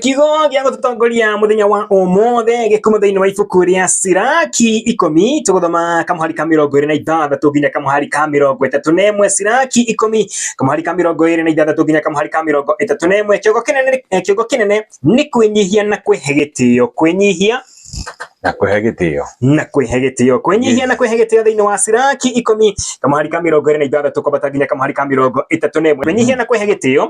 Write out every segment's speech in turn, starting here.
Kiugo gĩa gũtũtongoria mũthenya wa ũmũthĩ gĩkuuma thĩinĩ wa ibuku rĩa Siraki ikũmi tũgũthoma kamũhari ka mĩrongo ĩrĩ na ithathatũ nginya kamũhari ka mĩrongo ĩtatũ na ĩmwe Siraki ikũmi kamũhari ka mĩrongo ĩrĩ na ithathatũ nginya kamũhari ka mĩrongo ĩtatũ na ĩmwe kĩongo kĩnene eh, kĩongo kĩnene nĩ kwĩnyihia na kwĩhe gĩtĩo kwĩnyihia na kwĩhe gĩtĩo na kwĩhe gĩtĩo kwĩnyihia na kwĩhe gĩtĩo thĩinĩ wa Siraki ikũmi kamũhari ka mĩrongo ĩrĩ na ithathatũ kwambata nginya kamũhari ka mĩrongo ĩtatũ na ĩmwe kwĩnyihia na kwĩhe gĩtĩo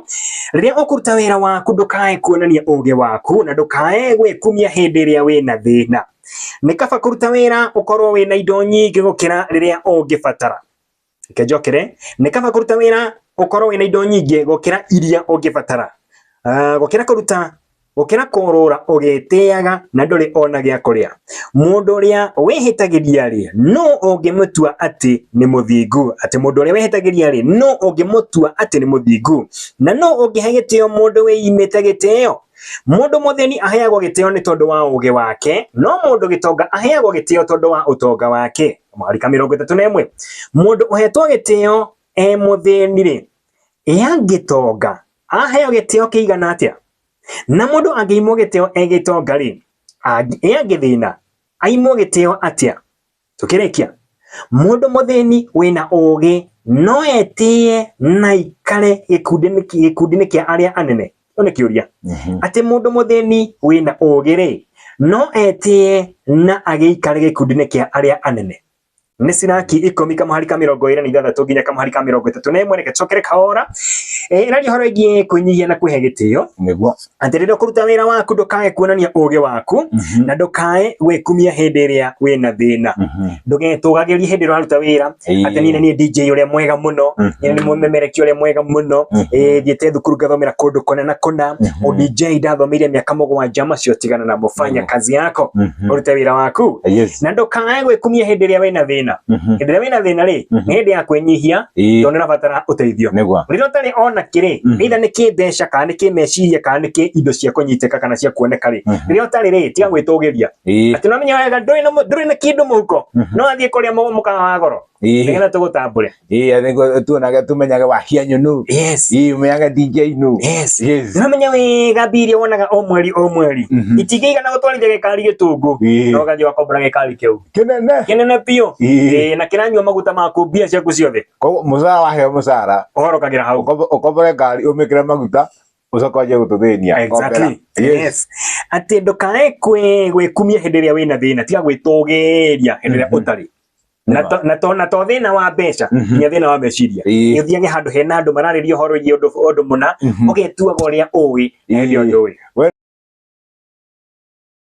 rĩrĩa ũkũruta wĩra waku ndũkae kuonania ũgĩ waku na ndũkae gwĩkumia hĩndĩ ĩrĩa wĩna thĩna nĩ kaba kũruta wĩra ũkorwo wĩna indo nyingĩ gũkĩra rĩrĩa ũngĩbatara Reke njokere, nĩ kaba kũruta wĩra ũkorwo wĩna indo nyingĩ gũkĩra iria ũngĩbatara. Ah, gũkĩra kũruta gũkĩra kũrũra ũgĩtĩaga na ndũrĩ ona gĩa kũrĩa. Mũndũ ũrĩa wĩhĩtagĩria-rĩ, nũ ũngĩmũtua atĩ nĩ mũthingu? Atĩ mũndũ ũrĩa wĩhĩtagĩria-rĩ, nũ ũngĩmũtua atĩ nĩ mũthingu? Na nũ ũngĩhe gĩtĩo mũndũ wĩimĩte gĩtĩo? Mũndũ mũthĩni aheagwo gĩtĩo nĩ tondũ wa ũũgĩ wake, no mũndũ gĩtonga aheagwo gĩtĩo tondũ wa ũtonga wake. marika mĩrongo ĩtatũ na ĩmwe mũndũ ũhetwo gĩtĩo e mũthĩni-rĩ angĩtonga aheo gĩtĩo kĩigana atĩa na mũndũ angĩimwo gĩtĩo e gĩtonga-rĩ e angĩthĩna aimwo gĩtĩo atĩa tũkĩrĩkia mũndũ mũthĩni wĩna ũũgĩ no etĩe na ikare gĩkundi-inĩ gĩkundi-inĩ kĩa arĩa anene Kĩu nĩ kĩũria. Mhm. Atĩ mũndũ mũthĩni wĩna ũũgĩ-rĩ, no etĩe na agĩikare gĩkundi-inĩ kĩa arĩa anene. Nĩ Siraki ikũmi kamũhari ka mĩrongo ĩĩrĩ na ithathatũ nginya kamũhari ka mĩrongo ĩtatũ na ĩmwe. Reke tũcokere kahora. Ĩ, Ĩraria ũhoro ĩgiĩ kwĩnyihia na kwĩhe gĩtĩo. Nĩguo. Atĩ rĩrĩa ũkũruta wĩra waku ndũkae kuonania ũũgĩ waku, Mhm. na ndũkae gwĩkumia hĩndĩ ĩrĩa wĩna thĩna. Mhm. Ndũgetũgagĩrie hĩndĩ ĩrĩa ũraruta wĩra, Ĩĩ. atĩ niĩ nĩ niĩ DJ ũrĩa mwega mũno Mhm. niĩ nĩ mũmemereki ũrĩa mwega mũno Mhm. Ĩĩ, thiĩte thukuru ngathomera kũndũ kona na kona Mhm. ũ DJ ndathomeire mĩaka mũgwanja macio tigana na mũbanya Mhm. kazi yako Mhm. ũrute wĩra waku Yes. na ndũkanae gwĩkumia hĩndĩ ĩrĩa wĩna thĩna Mhm. hĩndĩ ĩrĩa wĩna thĩna rĩ Mhm. nĩ hĩndĩ ya kwĩnyihia Ĩĩ. tondũ nĩũrabatara ũteithio Nĩguo. rĩrĩa ũtarĩ ona kĩrĩ Mhm. either nĩ kĩmbeca kana nĩ kĩmeciria kana nĩ kĩ indo cia kũnyitĩka kana cia kuoneka rĩ Mhm. rĩrĩa ũtarĩ rĩ tiga gwĩtũgĩria Ii. ati no minyoyaga nduri na mu- nduri na kindu muhuko Mhm. no athie kuria mu mukaga wa goro Ii. nigetha tugutambure Ii, I think uh, tuonaga tumenyaga wahia nyunu. yes Ii, umenyaga ndingia inu. yes Yes. namenya wega mbia iria wonaga o mweri o mweri Mhm. itingĩigana gũtwarithia gĩkari gĩtũngũ Ii. no ũgathiĩ wakombora gĩkari kĩu Kinene. kĩnene biũ Ii. Ĩĩ, na kĩranyua maguta maku mbia ciaku ciothe Koguo mũcara waheo mũcara ũhorokagĩra hau ũkombo- ũkombore ngari ũmĩkĩre maguta ucoka wanjie gututhinia Exactly. Yes. Atĩ ndũkae kwĩ- gwĩkumia hĩndĩ ĩrĩa wĩna thĩna tiga gwĩtũgĩria hĩndĩ ĩrĩa Mhm. ũtarĩ Na Nĩma. to- na to- na to thĩna wa mbeca Mhm. nginya thĩna wa meciria Ĩĩ. ũthiage handũ hena andũ mararĩria ũhoro wĩgiĩ ũndũ ũndũ mũna ũgetuaga ũrĩa ũĩ na hĩndĩ ĩyo Ĩĩ. ndũĩ